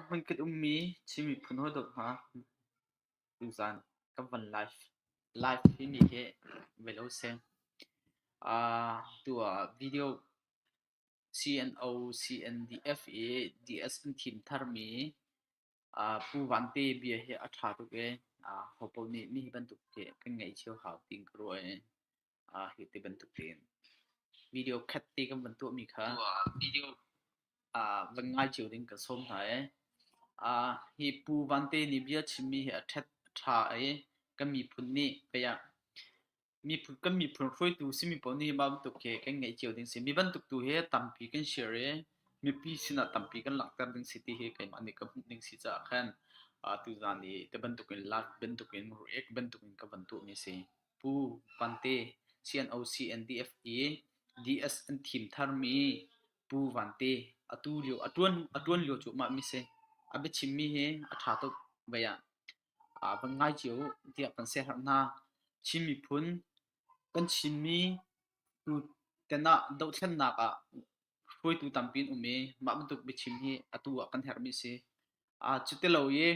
Hman kan ummi Chin miphun hawidawt hna, tuzaan kan van live hi ni hi bel a si. Tu ah video CNO-CNDF i DSM thim tharmi Pu Van Te bia hi a ṭha tuk i hopaoh nih mi hi bantuk hi kan ngaih cio hau ti ka ruah i. Ah, hi ti bantuk tein. Video khat ti kan van tuahmi kha video ah van ngai cio ding ka sawm hna e. Ah, hi Pu Vante nih bia chimmi hi a ṭhat ṭha e kan miphun nih payah miphun kan miphun hruaitu simi pawl nih mah bantuk hi kan ngeih cio ding si. Mi bantuk tu hi tampi kan share e mipi sinah tampi kan langhter ding si ti hi keimah nih ka hmuh ding si caah khan ah tuzan i te bantukin lak bantukin react bantukin ka van tuahmi si. Pu Vante, CNOC NDF i DS an thim tharmi Pu Vante, atu lio a ṭuan a ṭuan lio cu mah mi si. A biachimmi hi a ṭha tuk vei ah aa van ngai cio uh tiah kan siaherh hna. Chin miphun kan Chinmi tu ten ah dohthlennak ah hruaitu tampi an um i mah bantuk biachim hi atu ah kan herhmi a si. Uh, cu ti lo i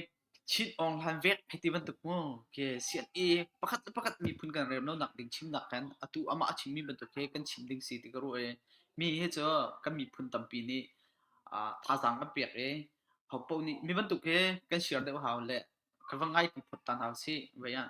Chin Aung Hlain vek hei ti bantuk mu khi CNE pakhat le pakhat miphun kan rem lonak ding chimnak kan atu amah a chimmi bantuk hi kan chim ding si ti ka ruah i mi hi cu kan miphun tampi nih uh, thazaang an pek i hopo nih mi bantuk hi kan share deuh hau le kan va ngai pi phot ta hna sih vei ah.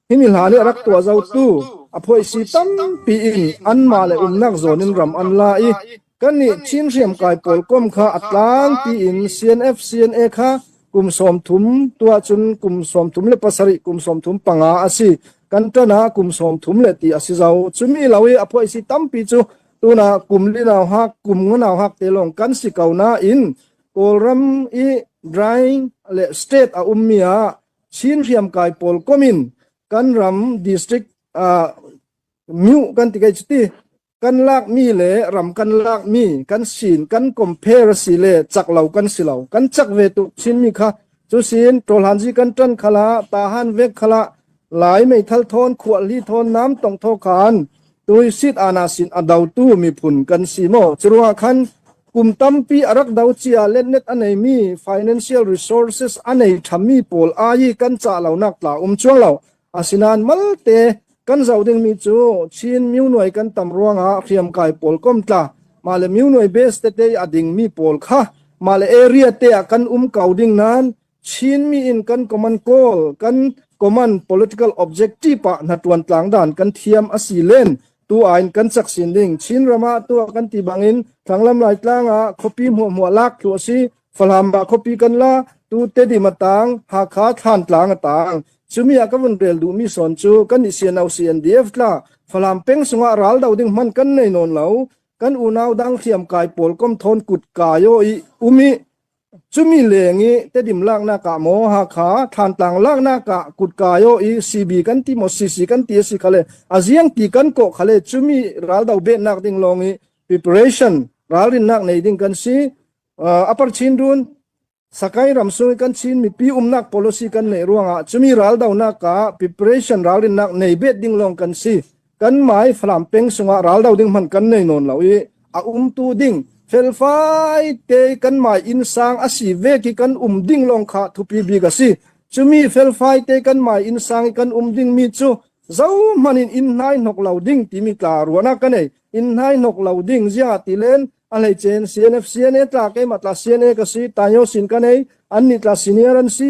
Himi hla nih a rak tuah zotu a phoisi tampi in anmah le umnak zawn in ram an la i kannih Chin hriamkai pawl kuam kha a tlangpi in CNF CNA kha kum sawm thum tuah cun kum sawm thum le pasarih kum sawm thum panga a si. Kan tan ah kum sawm thum le ti a si zo. Cumi lo i a phoisi tampi cu tuna kum li nau hak kum ngu nau hak te lawng kan si ko nain Kawlram i dry le state a ummi ah Chin hriamkai pawl kom in kan ram district ah miu kan ti kai cuti kan lak mi le ram kan lak mi kan sin kan compare si le chak lo kan si lo kan chak ve tu chin mi kha chu sin tolan ji kan tan khala ta han vek khala lai mei thal thon khual li thon nam tong tho khan Tuisit ana sin a dotu miphun kan si maw? Curuangah khan kum tampi a rak do cia letnet a neimi financial resources a nei ṭhammi pawl ai i kan cah lonak tla um cuang lo. Asinain malte kan zoh dingmi cu Chin mionuai kan tam ruangah hriamkai pawl komtla mahle mionuai base tete i a dingmi pawl kha mahle area te ah kan um ko ding nan Chinmi in kan comment kawl, kan comment political objective ah hnaṭuan tlangdan kan thiam a si len tu ah in kan caksin ding. Chin ram ah tuah kan ti bang in Thlanglem Laitlang ah khuapi hmuahhmuah lak thu a si. Falam ah khuapi kan la tu Tedim a tang, Hakha Thlantlang a tang. Cumi ah ka vun rel duh mi son cu kan i sian au CNDF tla Falam peng sungah ral do ding man kan nei non lo. Kan unau dang thiam kai pawl kom thon kut kai o i umi Cumi leng i tedim laknak ah maw Hakha Thlantlang laknak ah kutka aw i CB kan ti maw CC kan ti a si khale aziang ti kan kawh khale cumi raldo behnak ding lawng i preparation ralrinnak nei ding kan si uh, upper chin run sakai ram sung kan chin mi pi umnak policy kan nei ruang ah cumi raldo nak ka preparation ralrinnak nei bet ding long kan si Kanmah i Falam peng sungah ral do ding hmanh kan nei nawn lo i a umtu ding felfai te kanmah inn sang a si ve ki kan um ding lawng kha thupi bik a si chumi felfai te kanmah inn sang i kan um ding mi cu zo hman in inn hnai hnok lo ding timi tla ruana ka nei inn hnai hnok lo ding zia ti len a hlei chen CNF CNA tla ke ma tla CNA ka si tayo sin ka nei an ni tla senior an si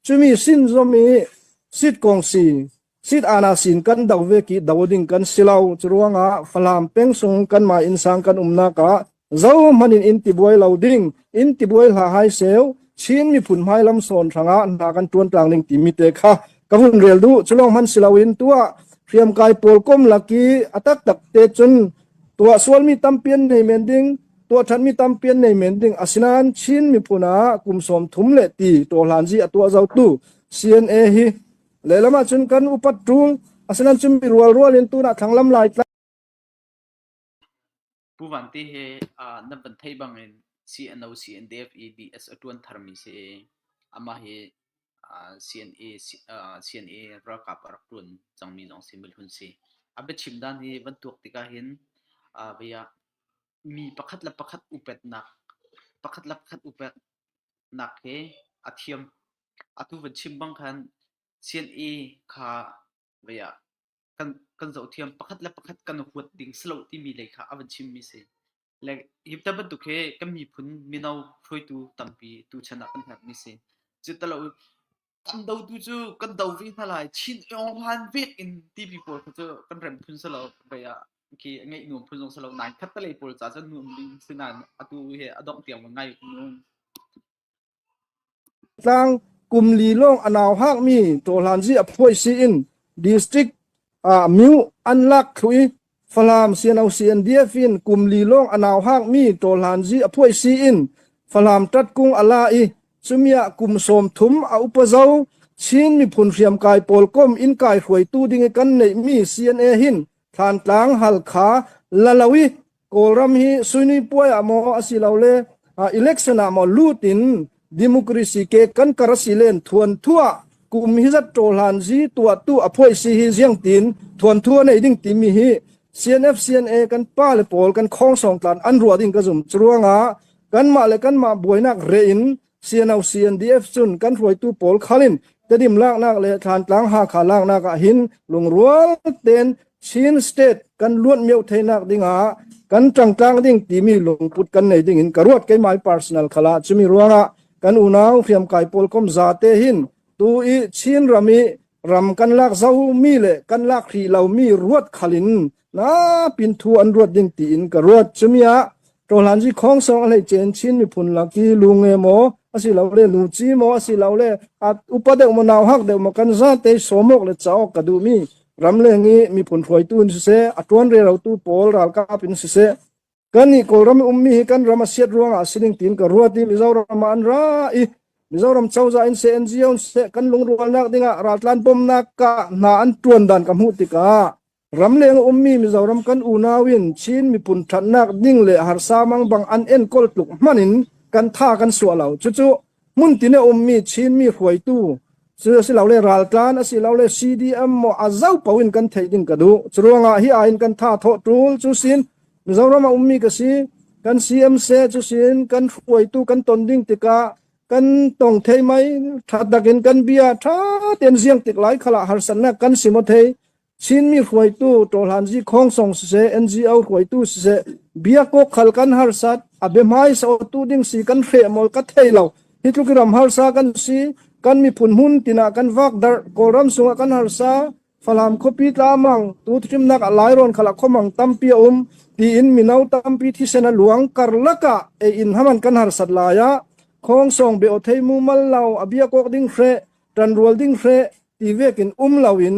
Cumi sin zom i sitkong si, sitana sin kan do ve ki do ding kan si lo. Curuangah Falam peng sung kanmah inn sang kan umnak ah zohmanh in in tibuai lo ding, in tibuai hla hai seu, Chin miphun hmai lam sawn hrangah hna kan tuan tlang ding timi te kha ka hun rel du. Culong hman si loin tua hriam kai pawl kom laki atak tak te cun tua sual mi tampian nei men ding tuahṭhanmi tampi an nei men ding. Asinain Chin miphun ah kum sawm thum le ti ṭawhhlanzi a tuah zotu CNA hi lehlam ahcun kan upat ṭung. Asinain cun mirual rual in tunah thlanglam lai tlak Pu Van te he uh, nan van thei bangin CNO CNDF e DS a tuan tharmi si ama hi uh, CNA uh, CNA ralkap a rak tuan cangmi zong si milhun si a biachim dan hi van tuak tikah hin uh, via Mi pakhat le pakhat upatnak he a thiam. Atu van chim bang khan CNA kha kan zohthiam. Pakhat le pakhat kan huat ding si lo timi lei kha a van chimmi si. Le hi bantuk hi kan miphun mino hruaitu tampi tuchan ah kan herhmi si. Cu tilo An dotu cu kan do ve hna lai. Chin Awng Hlan vek in tipi pawl kha cu kan rem phun si lo. Vei ah khi ngeih nuam phun zong si lo. Nai khat te lei pawl ca cu nuam ding si nain atu hi a dongh tiang ngai nuam. Tlang kum li lawng a nau hakmi Ṭawhlanzi a phuai sii in district ah myu an lak thlu i Falam sianosian biafin kum li lawng a nau hangmi ṭawlhlanzi a phuai siin Falam ṭatkung a la i cumi ah kum sawm thum a upa zo Chin miphun hriamkai pawl kom in kai hruaitu ding i kan neihmi CNA hin Thlantlang, Halkha, Lalo i Kawlram hi suini puai ah maw asilole election ah maw lut in Democracy ke kan kar si len thuan thua kum hi zat ṭo hlan si tuah tu a phoi si hi ziang tin thuan thua nei ding timi hi CNF CNA kan pa le pawl kan khong song tlan an ruwa ding ka zum chuanga kan mah le kan mah buainak re in CNO CNDF cun kan hruaitu pawl khalin Tedim laknak le thlantlang Hakha laknak ah hin lungrual ten Chin State kan luan mio theinak dingah kan tangtlang ding timi lungput kan nei ding in ka ruat ke my personal khala chumi ruangah kan unau hriam kai pol kom za te hin tu i Chin ram i ram kan lak zo mi le kan lak hri lo mi ruat khalin Lapin thu an ruat ding tiin ka ruat. Cumi ah Ṭawhlan Zi Khawng Song a hleicen Chin miphun laki lu nge maw asi lo le lu ci maw asi lo le at upa deuh maw nau hak deuh maw kan za te somok le caok ka duh mi ramleng i miphun hruaitu in siseh a ṭuan rerotu pawl ralkap in siseh Kannih Kawlram i ummi hi kan ram a siat ruangah a si ding tiin ka ruat i Mizoram ah an ra i Mizoram cozah in seh NGO in seh kan lungrualnak dingah raltlan bawmnak ah hna an ṭuan dan ka hmuh tikah ramleng ummi Mizoram kan unau in Chin miphun ṭhatnak ding le harsa mang bang an enkawl tluk hman in kan tha kan suah lo. Cucu Hmuntin a ummi Chinmi hruaitu cu asilole raltlan asilole CDM maw a zopo in kan theih ding ka duh. Curuangah hi aiin kan tha thawh ṭul cu sin Mizoram a ummi ka si. Kan CMC cu sin kan hruaitu kan ton ding tikah kan tong thei mei ṭha takin kan bia ṭha tein ziang tik lai khalah harsannak kan si maw thei. Chinmi hruaitu Ṭawhlan Zi Khawng Song siseh, NGO hruaitu siseh, bia kawkhal kan harsat a biahmai saotu ding si kan hre mawl ka thei lo. Hi tluk i ram harsa kan si, kan miphun hmun tinah kan vak darh, Kawlram sungah kan harsa, Falam khuapi tlamang, tu thimnak a lairon khala khomang tampi a um, tiin mino tampi thisen a luang karlaka e in haman kan harsat laya. Khawng song be o thei mu mal lo, a bia kok ding hre, tan rual ding hre, i vek in um loin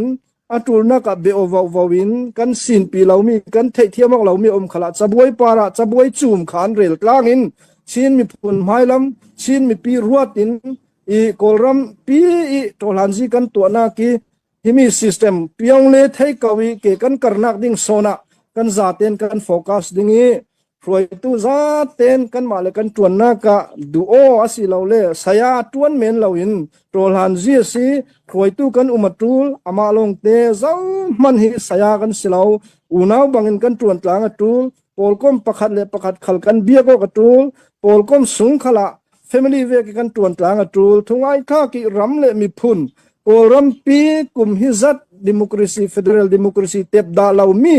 a ṭulnak ah bia vauvo in kan sinpi lomi kan theihthiam awk lomi um khalah cabuai par ah cabuai cum kha an rel tlang in Chin miphun hmailam Chin mipi ruat in i Kawlram pi i ṭohlanzi kan tuahnak i himi system piong le thei ko i ke kan karnak ding sona kan zaten kan focus ding i hruaitu zat ten kanmah le kan tuannak ah duh aw asi lo le saya tuan men lo in tawlhan zi si hruaitu kan um atul ama long te zo man hi saya kan silo unau bangin kan tuan tlang atul polkom pakhat le pakhat khal kan bia ko katul polkom sung khala family ve ke kan tuan tlang atul thungai kha ki ram le mi phun kawlram pi kum hi zat democracy federal democracy tep da lo mi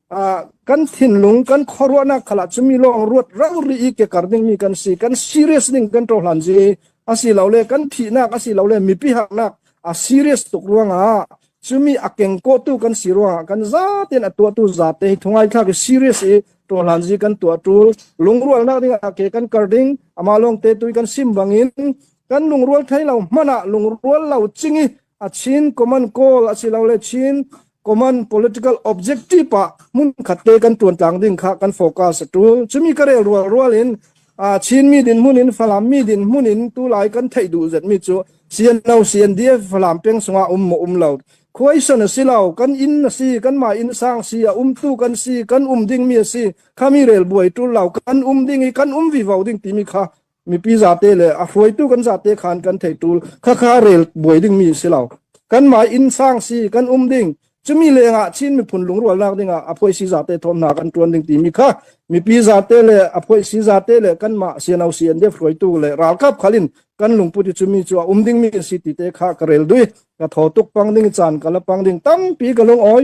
kan thinlung kan khuaruahnak khalah cu mi lawng ruat rau ri i kekar dingmi kan si kan serious ding kan cohlan si asilole kan thihnak asilole mipi haknak a serious tuk ruangah cumi a kengkawtu kan si ruangah kan zaten a tuahtu zate hi thungai thlak i serious i tohlan zi kan tuah tul lungrualnak dingah ke kan kar ding ama long te tui kan sim bangin kan lungrual thai lo mana lungrual lo ching i a chin common goal asilole chin common political objective pa mun khat te kan tuan tlang ding kha kan focus tu chumi ka re rual rual in a chin mi din mun in falam mi din mun in tu lai kan thei du zet mi chu CNO CNDF falam peng sunga um mo um lo khoisan asilo kan in asi kan ma in sang si a um tu kan si kan um ding mi asi khami rel buai tu lo kan um ding i kan um vi vo ding ti mi kha mipi zate le a hruaitu kan zate khan kan theitu khakha rel buai ding mi si lo kan mai inn sang si kan um ding chumi lenga chin mi phun lungrual nak dingah a phoi si zate thon na kan tuan ding ti mi kha mipi zate le a phoi si zate le kan ma sianau si an def hruaitu le ral kap khalin kan lungputi chumi chu um ding mi si ti te kha karel dui ka tho tuk pang ding chan kala pang ding tampi ka lung oi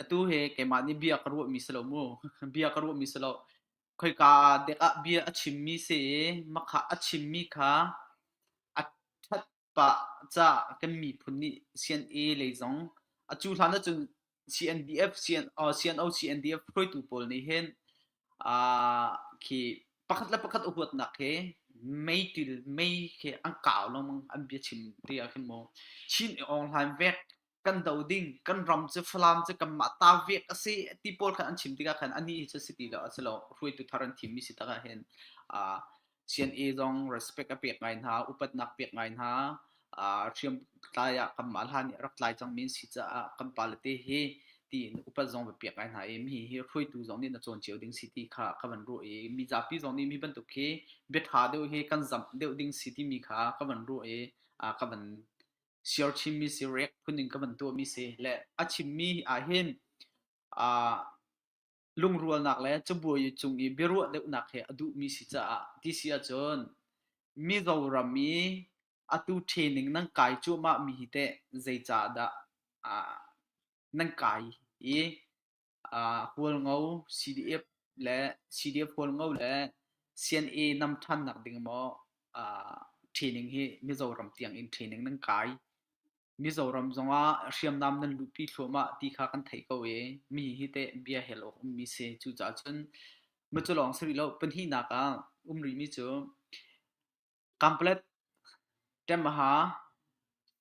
atu hi keimah nih bia ka ruahmi si lo mu. Bia ka ruahmi si lo. Khoika dek ah bia a chimmi si i makhah a chimmi kha a ṭhat pah ca kan miphun nih CNA lei zong a cu hlan ahcun CNDF, CNO, CNDF hruaitu pawl nih hin aa khi pakhat le pakhat huatnak hi mei til mei khi an kau lengmang an bia chim ti ah khin maw Chin i awnghlan vek kan do ding kan ram cu Falam cu kanmah ta vek a si ti pawl khan an chim tikah khan ani cu si ti lo a si lo hruaitu thar an thim mi si takah hin uh, CNA zong respect a pek ngai hna upatnak pek ngai hna uh, hriam tlai ah kanmah hlan nih rak tlai cang min si caah kan pa le te hi ti upat zong va pek ngai hna i mi hi hruaitu zong nih na cawn cio ding si ti kha ka van ruah i mi zapi zong nih mi bantuk hi biatha deuh hi kan zamh deuh ding si ti mi kha ka van ruah i uh, ka van siarchimmi sirek phunding ka van tuahmi si le a chimmi ahhin aa lungrualnak le cabuai cung i biaruah deuhnak he a duhmi si caah ti si ahcun mizo ram i atu training nan kai cuahmahmi hi teh zei caah dah nan kai i Hualngo CDF le CDF hualngo le CNA nam ṭhan nak ding maw training hi Mizoram tiang in training nan kai. Mizoram zongah hriamnam nan luhpi thluahmah ti kha kan theih ko i mi hi teh bia hel awk ummi si. Cucaah cun mah cu lawng si rih lo. Pahnihnak ah um rihmi cu Kamplet ṭemha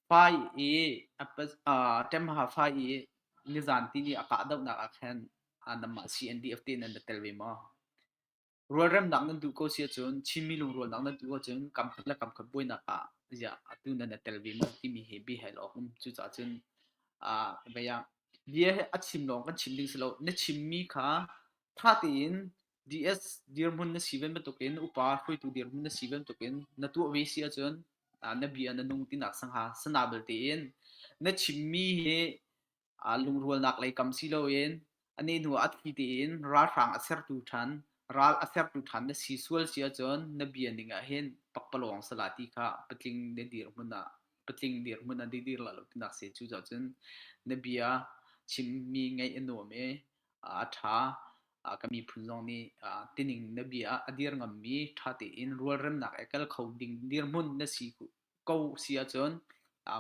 fai i nizan ti ni a kahdohnak ah khan nangmah CNDF te nan tel ve maw? Rualremnak nan duh ko si ahcun Chinmi lungrualnak nan duh ahcun kamkhat le kamkhat buainak ah ziah atu nan na tel ve maw timi hi biahal awk a um. Cucaah cun vei ah bia hi a chim lawng kan chim ding si lo. Na chimmi kha ṭha tein DS dirhmun na si bantukin upa hruaitu dirhmun na si bantukin na tuah ve si ahcun na bia na nung tinak sangha sana belte in na chimmi hi lungrualnak lei kam si loin a ne hnu a thi tein ralhrang a sertu ṭhan ral a sertu ṭhan na si sual si ahcun na bia ning ah hin pakpalawng sala ti kha patling na dirhmun ah patling dirhmun ah dir la lo tinak se cu cah cun na bia chimmi ngaih a nuam e a ṭha. Ka miphun zong nih tining na bia ah a dir ngammi ṭha tein rualremnak i tel kho ding dirhmun na si ko si ahcun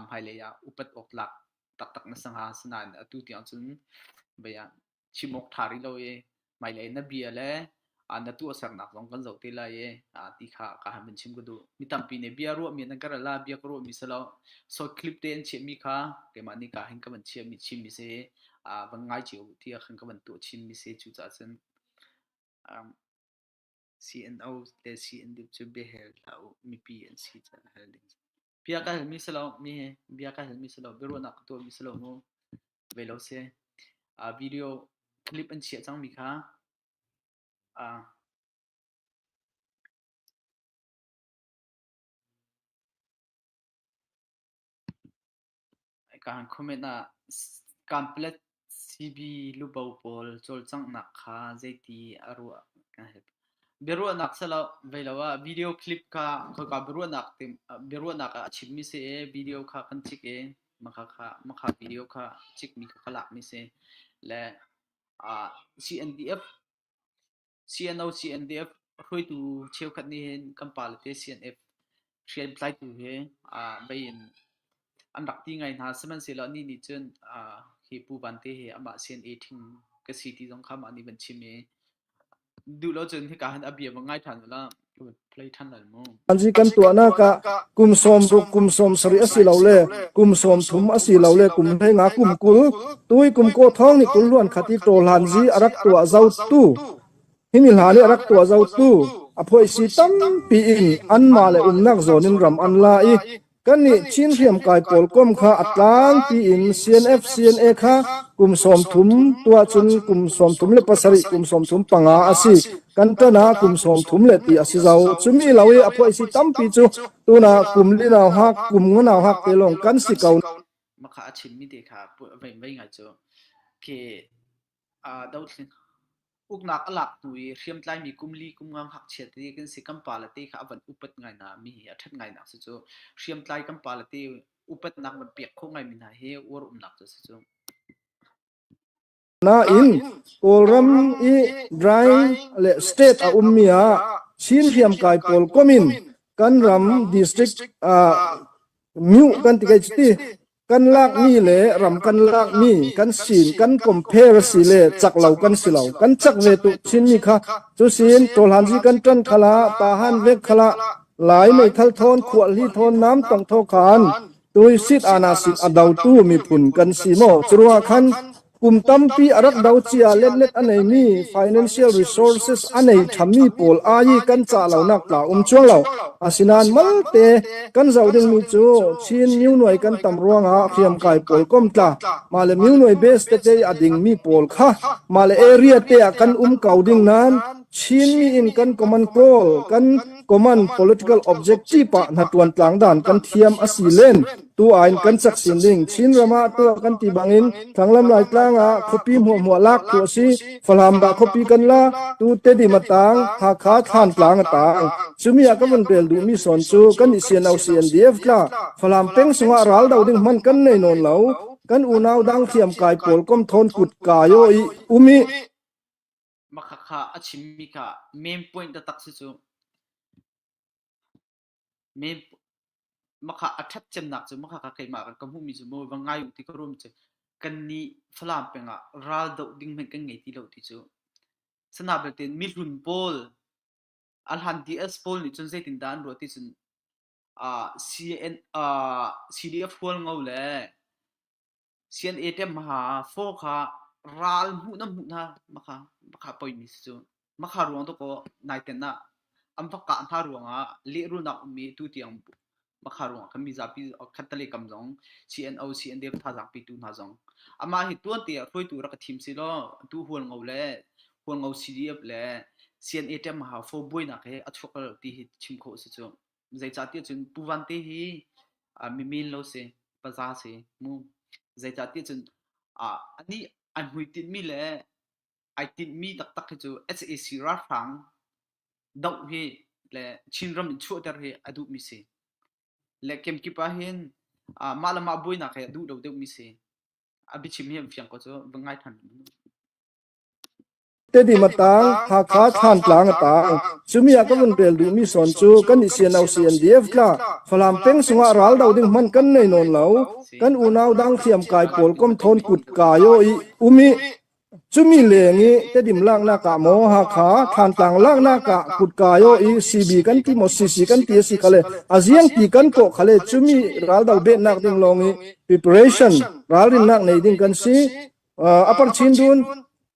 hmailei ah upat awk tlak taktak na si hnga. Asinain atu tiang cun bia chim awk ṭha rih lo i hmailei na bia le ah na tuahsernak zong kan zoh te lai i ti kha ka han vun chim ka duh mi tampi nih bia ruahmi nan ka ral la bia ka ruahmi si lo short clip te an chiahmi kha keimah nih ka hin ka van chiah mi chimmi si van ngai cio ti ah khan ka van tuah chinmi si cu caah cun CNO te CND cu biahel hlah u mipi an si caan hal ding bia ka halmi si lo mi bia ka halmi si lo biaruahnak ka tuahmi si lo mu ve lo se video clip an chiah cangmi kha A kaan comment ah kamplet CB lubo pawl cawlcanghnak kha zeiti a ruah kan help. Biaruahnak silo veilo ah video clip kha khoika biaruahnak tim biaruahnak ah a chimmi si i video kha kan chik i makha kha makha video kha chikmi kha ka lakmi si le CNDF CNO CNDF hruaitu cheukhat nih hin kan pa le te CNF hriamtlaitu hi mei in an rak ti ngai hna sihmanhsehlaw anih nih cun hi Pu Van Te hi amah CNA ṭhing ka si ti zong kha mah nih van chim i Duh lo cun hika hin a bia va ngai ṭhan ula ka va play ṭhan lai mu. An si kan tuahnak ah kum sawm ruk kum sawm sarih a si lo le kum sawm thum a si lo le kum hlenga kum kul tuikum kaw thawng nih kul luan khat i ṭawhlan zi a rak tuah zotu himi hla nih a rak tuah zotu a phoisi tampi in anmah le umnak zawn in ram an la i Kannih Chin hriamtlai pawl kuam kha a tlang piin CNF CNA kha kum sawm thum tuah cun kum sawm thum le pasarih kum sawm thum panga a si. Kan ṭan ah kum sawm thum le ti a si zo. Cumi lo i a phuaisi tampi cu tunah kum li nau hak, kum ngu nau hak te lawng kan si ko. Makha a chimmi te kha menmen ngai cu. Ke dothlen uknak a lak hnu i hriamtlaimi kum li kum nga ngakchia te kan si kan pale te kha a van upat ngai na mi hi a ṭhat ngai nak si cu hriamtlai kan pale te upatnak van pek kho ngai mi hna hi uar umnak cu si cu nain kawlram i dry le state a um mi ah chin hriamkai pawl komin kan ram district ah mu kan ti kai ti Kan lakmi le ram kan lakmi kan sin kan compare a si le chak lo kan si lo. Kan chak ve tuk chinmi kha cu sin ṭawlhanzi kan ṭan khala tahan vek khala lai mei thal thawn khuahli thawn nam tong tho khan tuisit ana sit a dotu miphun kan si maw curua khan Kum tampi a rak do cia letlet a neimi financial resources a nei ṭhammi pawl ai i kan cah lonak tla um cuang lo. Asinain malte kan zoh dingmi cu Chin myu nuai kan tam ruangah hriamkai pawl komtla male myu nuai base te te a dingmi pawl kha male area te ah kan um ko ding nan Chin mi in kan common goal kan common political objective pa hna tuan tlang dan kan thiam a si len Tu ah in kan sak sin ding Chinram ah tuah kan ti bangin Thanglam Laitlang ah khuapi hmuahhmuah lak thu a si. Falamdah khuapi kan la tu Tedim a tang Hakha Thlantlang a tang chumi ah ka vun rel duhmi son cu kan i sian au CNDF tla Falam peng sungah ral do ding man kan nei non lo kan unau dang thiam kai pawl kom thon kut kayo i umi makhakha a chimmi ka main point da tak si cu Makha a ṭhat cemnak cu makha kha keimah kan ka hmuhmi cu mawi va ngai u ti ka ruam cu kan nih Falam peng ah ral doh ding hmanh kan ngei ti lo ti cu. Sana belte mihlun pawl, ahlan DS pawl nih cun zeitindah an ruah ti cun CDF hual ngo le Sian-eṭem hma ah faw kha ral hmuhnam hmuhna makha makha poimi si cu. Makha ruang tu kaw naiten ah an va kah hna ruangah lehrulnak um i tutiang makha ruangah kan mi zapi khattale kam zong CNO CNDF thazaangpi tu hna zong amah hi tuante ah hruaitu rak i thim si law atu hualngo le hualngo CDF le CNA ṭem hma faw buainak he a chuak ti hi chim khawh a si cu. zeicahtiah cun Pu Van te hi mimin lo si paza si mu zeicahtiah cun anih an hui tinhmi le ai tinhmi taktak hi cu sac ralhrang doh hi le chinram in chuahter hi a duhmi si le kemkip ahhin mah le mah buainak hi a duh lo deuhmi si a biachim hi an fiang ko cu va ngai than Tedim a taang, Hakha Thlantlang a taang. Cumi ah ka vun rel duhmi sawn cu kan i siano CNDF tla Falam peng sungah ral do ding hmanh kan nei nawn lo. Kan unau dang thiam kai pawl kom thawn kut kai o i um i cumi leng i tedim laknak ah maw Hakha Thlantlang laknak ah kut kai o i CB kan ti maw CC kan ti a si khale aziang ti kan kawh khale cumi raldo behnak ding lawng i preparation ralrinnak nei ding kan si. Uh, apar chin dun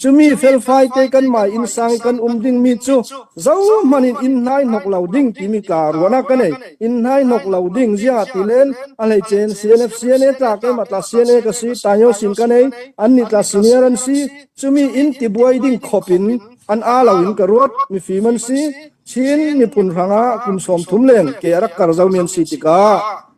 Cumi felfaite kanmah innsang i kan um dingmi cu zohhmanh in inn hnai hnok lo ding timi kaa ruan ah ka nei. Inn hnai hnok lo ding ziah tilen a hleicein CNF CNA tla keimah tla CNA ka si Tayo sin ka nei annih tla senior an si cumi inn tibuai ding khop in an a lo in ka ruat mifim an si Chin miphun hrangah kum sawm thum leng ke a rak kar zomi an si tikah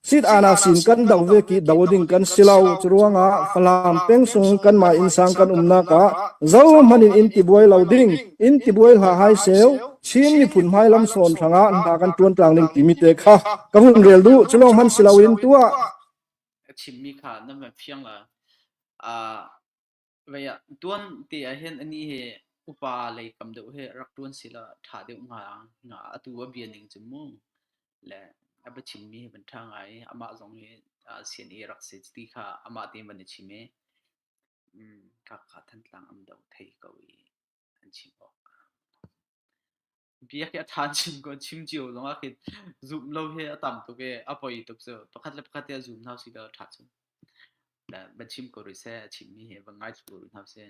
Sitanak sin kan do ve ki do ding kan si lo. Curuangah Falam peng sung kanmah innsang kan umnak ah zohmanh in in tibuai lo ding, in tibuai hla hai seu, Chin miphun hmailam sawn hrangah hna kan tuan tlang ding timi te kha ka hun rel du. Culong han si lo in tua. A chimmi kha nan van phiang la. Uh, Vei ah tuan te ahhin anih hi upa lei tam deuh hi rak ṭuan sila ṭha deuh hnga hnga. Atu a bia ning cu mu le a biachimmi hi van ṭha ngai i amah zong hi aa sian i rak si ti kha amah tein van i chim i mm, kakka Thantlang am do thei ko i an chim awk. biak hi a tha chim ko chim cio zong ah khin zoom lo hi a tam tuk i a poi tuk cu pakhat le pakhat te zoom hau si lo tha chun da ba chim ko ri se a chim mi he ba ngai ko ri hau se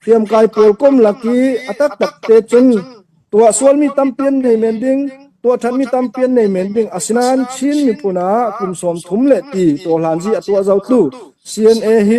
hriamkai pawl kom laki atak tak te cun tua sual mi tampian nei men ding tua that mi tampian nei men ding asinan chin miphun ah kum sawm thum le ti to hlan ji atua zo tlu cna hi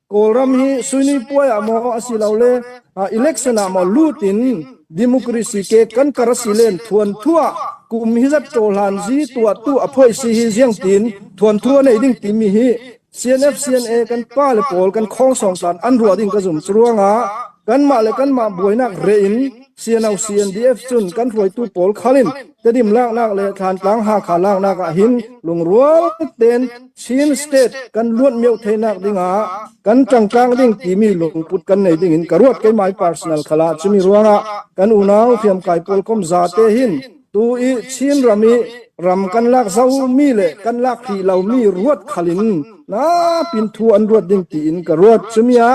Kawlram hi suinipuai ah maw asilole election ah maw lut in democracy ke kan kar si len thuan thuah kum hi zat cohlan zi tuah tu a phoi si hi ziang tin thuan thu nei ding timi hi CNF CNA kan pa le pawl kan khong song tan an ruwa ding ka zum chuanga kan mah le kan mah buainak re in CNO CNDF chun kan ruaitu pawl khalin Tedim laklak le Thlantlang Hakha laknak ahhin lungrual tein Chin State kan luat mio theinak dingah kan tangtlang ding timi lungput kan nei ding in ka ruat ke my personal khala chimi ruangah kan unau hriamkai pawl kom za te hin tu i Chin ram i ram kan lak zo mi le kan lak ri lo mi ruat khalin na pin thu an ruat ding ti in ka ruat chumia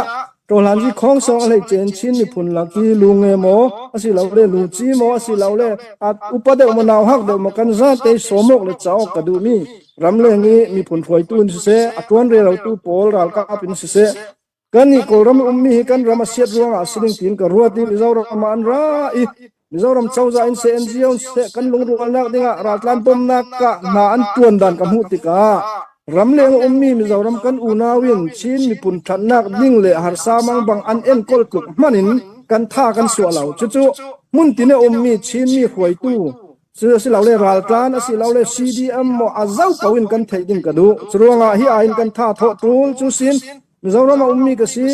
Ṭawhhlan hi khongsawng a hleice in Chin miphun lak hi lu nge maw asilole luci maw asilole upa deuh maw nau hak deuh maw kan zate sawm awk le cauk ka duhmi ramleng i miphun hruaitu in siseh a ṭuan relotu pawl ralkap in siseh kannih Kawlram i ummi hi kan ram a siat ruangah sining tiin ka ruat i Mizoram ah an ra i Mizoram cozah in CNGO seh kan lungrualnak dingah raltlan bawmnak ah hna an tuan dan ka hmuh tikah ramleng ummi Mizoram kan unau in Chin miphun ṭhatnak ding le harsa mang bang an enkawl tluk hmanh in kan tha kan suah lo. Cucu hmuntin a ummi Chinmi hruaitu silole raltlan asilole CDM maw a zau poin kan theih ding ka duh. Curuangah hi aiin kan tha thawh ṭul cu sin Mizoram a ummi ka si.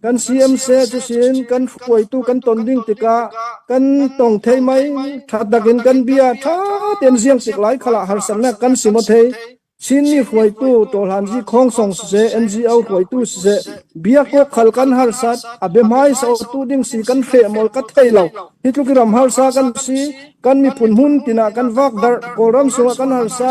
Kan CMC cusin kan hruaitu kan ton ding tikah kan tong thei mei ṭhat nakin kan bia ṭha tein ziang tik lai khalah harsatnak kan sim a thei. Chinmi hruaitu Tawhlan Zi Khawng Song siseh NGO hruaitu siseh bia kok khal kan harsat a biahmai sautu ding si kan hreamol ka thei lo hi tluk i ram harsa kan si kan miphun hmun tinah kan vak dar kawlram sungah kan harsa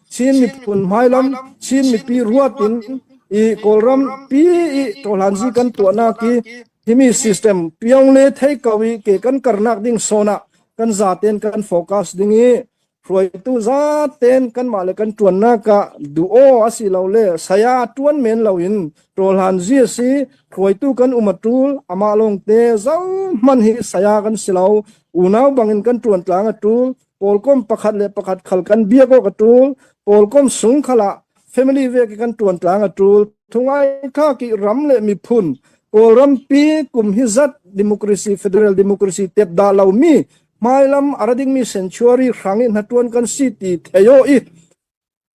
Chin miphun hmailam Chin mipi ruat in i Kawlram pi i ṭawhlanzi kan tuahnak hi himi system piong le thei kau i ke kan karnak ding sawn ah kan zaten kan focus ding i hruaitu zaten kanmah le kan ṭuannak ah duh aw a si lo le saya ṭuan men lo in ṭawhlan zi a si hruaitu kan um a ṭul amah lawngte zo hman hi saya kan si lo unau bangin kan ṭuan tlang a ṭul pawlkom pakhat le pakhat khal kan bia ko ka tul pawlkom sung khala family ve ke kan tuan tlang a tul thungai tha ki ram le mi phun kawlram pi kum hi zat democracy federal democracy tep da lo mi hmailam arading mi century hrangin hatuan kan si ti theyo i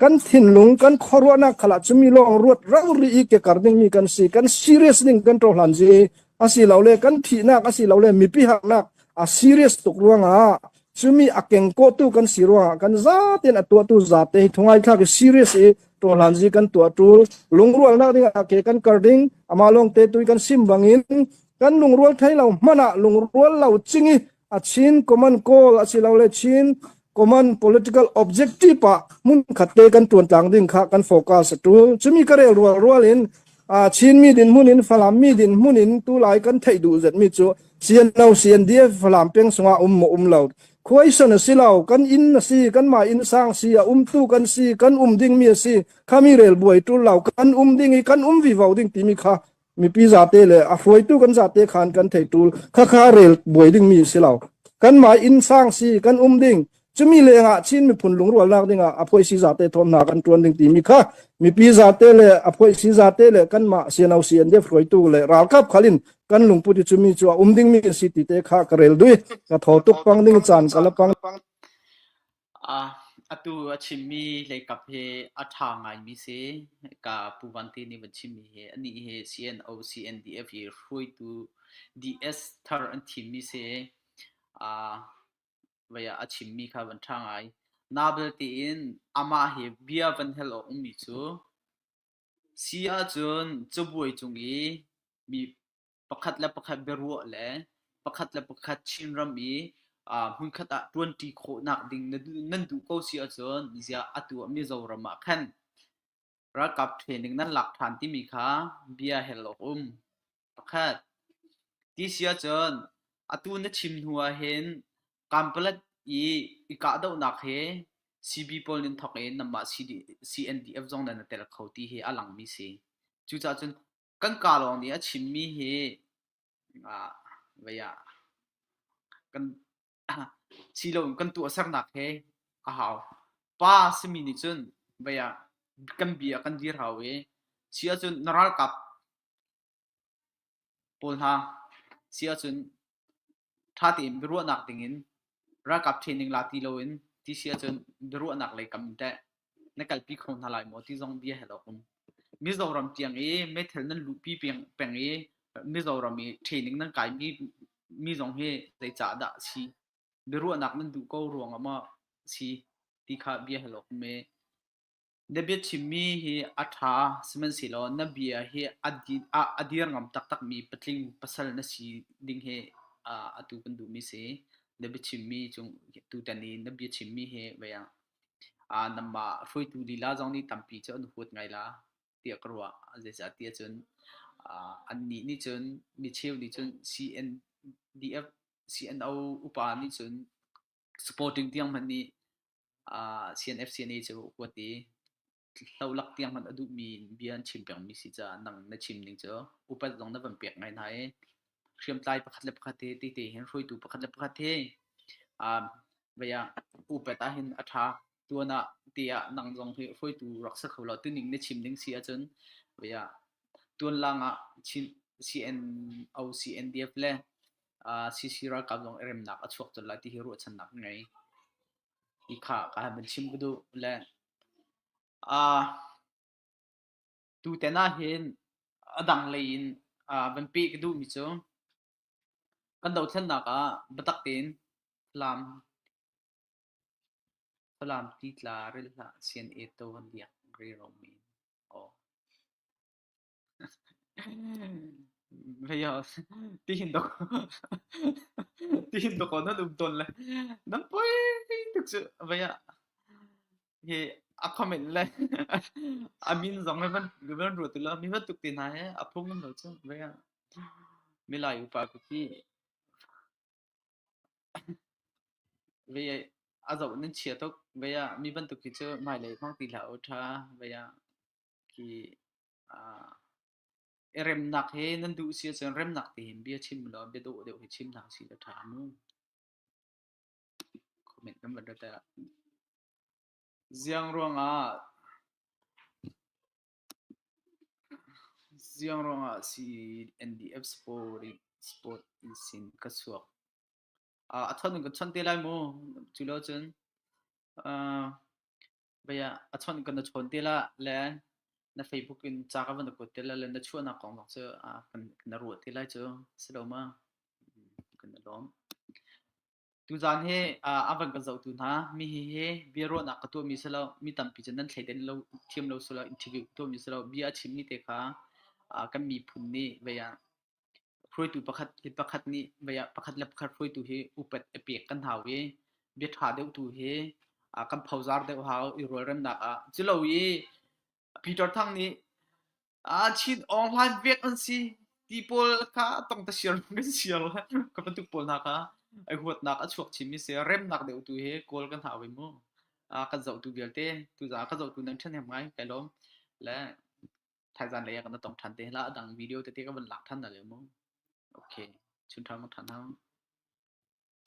kan thinlung kan khuaruahnak khala cu mi lawng ruat ralri i kekar dingmi kan si kan serious ding kan ṭo hlan ji asilole kan thihnak asilole mipi haknak a serious tuk ruangah cumi a kengkawtu kan si ruangah kan zaten a tuahtu zate hi thungai thlak i serious i to hlan ji kan tua tul lungrualnak dingah ke kan kar ding ama long te tui kan sim bangin kan lungrual thei lo mana lungrual lo ching i a Chin common goal asilole Chin common political objective pa mun khat te kan tuan tlang ding kha kan focus tu chumi ka rel rual rual in a Chin mi din mun in Falam mi din mun in tu lai kan thei du zet mi chu CNO CNDF Falam peng sunga um mo um lo khuai san asilo kan in asi kan ma in sang si a um tu kan si kan um ding mi asi khami rel buai tu lo kan um ding i kan um vi vo ding timi kha mipi zate le a hruaitu kan zate khan kan thei tul khakha rel buai dingmi si lo kanmah inn sang si kan um ding cumi lengah Chin miphun lungrualnak dingah aphoi si zate thawmna kan tuan ding timi kha mipi zate le aphoi si zate le kanmah siano si an def hruaitu le ralkap khalin kan lungput cumi chu a um dingmi si ti te kha ka rel dui ka tho tuk pang ding chan ka la pang Atu a chimmi leikap hi a ṭha ngaimi si. Hika Pu Van Ti nih a van chimmi hi anih hi CNO, CNDF i hruaitu DS thar an thimmi si. Vei ah a chimmi kha van ṭha ngai. Nabel tiin amah hi bia van hal awk ummi cu, si ahcun cabuai cung i mi pakhat le pakhat biaruah le pakhat le pakhat Chinram i hmunkhat ah ṭuanṭi khawhnak ding nan duh ko si ahcun ziah atu ah Mizoram ah khan ralkap training nan lak ṭhan timi kha bia hel awk um. Pakhat. Ti si ahcun atu na chim hnu ah hin kampalat i i kahdohnak he CB pawl nan thawk i namah CDF zong nan tel kho ti hi a langmi si. Cucahcun kan ka lawng nih a chimmi hi vei ah kan si loin kan tuahsernak he a hau. Pa simi nih cun vei ah kan bia kan dir hau i si ahcun na ralkap pawl hna si ahcun ṭha tein biaruahnak dingin ralkap training la ti loin ti si ahcun biaruahnak lei kam in teh na kalpi kho hna lai maw ti zong bia hal awk um. Mizoram tiang i meithal nan luhpi peng, peng i Mizoram i training nan kaimi mi zong hi zeicah dah a si? Biaruahnak nan duh ko ruangah maw a si? Ti kha bia hal awk um ee. Na biachimmi hi a ṭha sihmanhsehlaw na bia hi a dir ngam taktakmi patling pasal na si ding hi atu kan duhmi si. Na biachimmi cung tutan i na biachimmi hi vei ah nangmah hruaitu lila zong nih tampi cu an huat ngai la tiah ka ruah. Zeicahtiah cun annih nih cun micheu nih cun CNDF CNO upa nih cun Sporting tiang hmanh nih uh, CNFCNA cu kuat i hlolak tiang hmanh a duhmi bia an chim pengmi si caah nang na chim ning cu upat zong na van pek ngai hna i hriamtlai pakhat le pakhat he te te hin hruaitu pakhat le pakhat he um, vaya upat ah hin a tha tuan ah te ah nang zong hi hruaitu rak sa kho lo tuning na chim ding si ahcun vaya tuan lang ah Chin CNO CNDF le CC ralkap zong i remnak a chuak colh lai ti hi ruahchannak ka ngei. Ti kha ka han van chim ka duh. Le uh, tutan ah hin a dang lei in uh, van pe ka duhmi cu kan dothlennak ah biatak tein Falam Falam titla ril hlah sian e to han diak ri romi. Oh. Veias, tihin dah tihin dah ko nan um tawn le nan poi tuk cu veiah hi a comment le amin zong le van van ruat tu la mi va tuk ti hna he a phung lo cu veiah milai upa ku khi vei a zoh nan chia tuk veiah mi bantuk khi cu mai lei hmang ti hlah u tha veiah ki uh, remnak he nan duh si ahcun remnak tein bia chim law bia dawh deuh hi chim hna si a ṭha mu comment kan vat ta ziang ruangah ziang ruangah si NDF sport sport in sin ka suak a thon ka chon te lai mu culo cun uh, Bei ah a chawnh kan na chawn te la le na Facebook in ca ka van na kuat te la le na chuahnak kong lak cu a kan na ruah te lai cu si lo ma kan na lawm. Tuzaan hi a van kan zohtu hna mi hi hi bia ruahnak ka tuahmi si lo mi tampi cu nan thleiden lo thiam lo sula interview tuahmi si lo bia a chimmi te kha kan miphun nih bei ah Hruaitu pakhat le pakhat nih pakhat le pakhat hruaitu hi upat a pek kan hau i bia ṭha deuh tu hi kan phozar deuh hau i rualremnak ah. Culo i Peter Thang nih Chin Aung Hlaing pek an si ti pawl kha tong tasiar kan siar ka bantuk pawl hna kha i huatnak a chuak chinmi si remnak deuh tu hi kawl kan hau i mu kan zohtu vialte tuzaah ka zohtu nan ṭhahnem ngai kai lawm le thaizan lei ah kan tong than te la dang video tete ka van lak than da le mu okay chun thang than hang